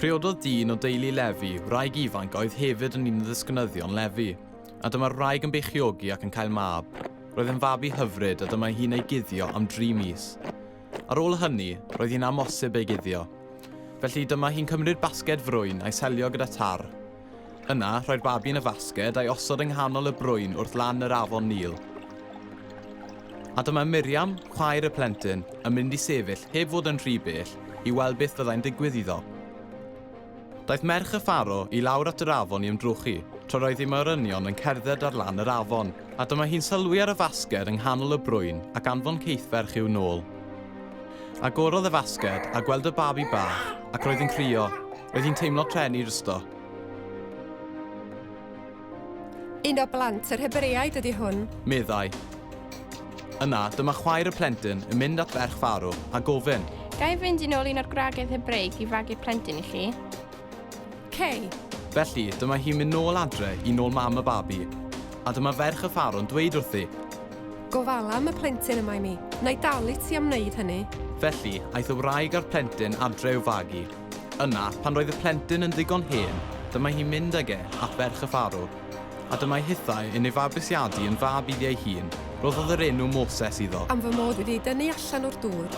Priododd dyn o deulu Lefi, wraig ifanc oedd hefyd yn un o ddisgynyddion Lefi, a dyma'r wraig yn beichiogi ac yn cael mab. Roedd yn fabi hyfryd a dyma hi'n ei guddio am dri mis. Ar ôl hynny, roedd hi'n amosib ei guddio. Felly dyma hi'n cymryd basged frwyn a'i selio gyda tar. Yna, rhoi'r babi yn y fasged a'i osod yng nghanol y brwyn wrth lan yr afon Nil. A dyma Miriam, chwaer y plentyn, yn mynd i sefyll, heb fod yn rhy bell, i weld beth fyddai'n digwydd iddo. Daeth merch y ffaro i lawr at yr afon i ymdrochi, tra roedd ei morynion yn cerdded ar lan yr afon, a dyma hi'n sylwi ar y fasged yng nghanol y brwyn ac anfon ceithferch i'w nôl. Agorodd y fasged a gweld y babi bach, ac roedd yn crio. Oedd hi'n teimlo pren i rysto. Un o blant yr Hebreaid ydy hwn. Meddai. Yna, dyma chwaer y plentyn yn mynd at ferch Faro a gofyn. Ga i fynd yn ôl un o'r gwragedd Hebreig i fagu'r plentyn i chi? Cei. Felly, dyma hi'n mynd nôl adre i nôl mam y babi. A dyma ferch y Faro'n dweud wrthi. Gofala am y plentyn yma i mi. Na i dalu ti am wneud hynny. Felly, aeth y wraig a'r plentyn adre i'w fagu. Yna, pan roedd y plentyn yn ddigon hen, dyma hi'n mynd ag e at ferch y ffarw. A dyma'i hithau yn ei fabwysiadu yn fab iddi ei hun, roddodd yr enw Moses iddo. Am fy mod wedi ei dynnu allan o'r dŵr.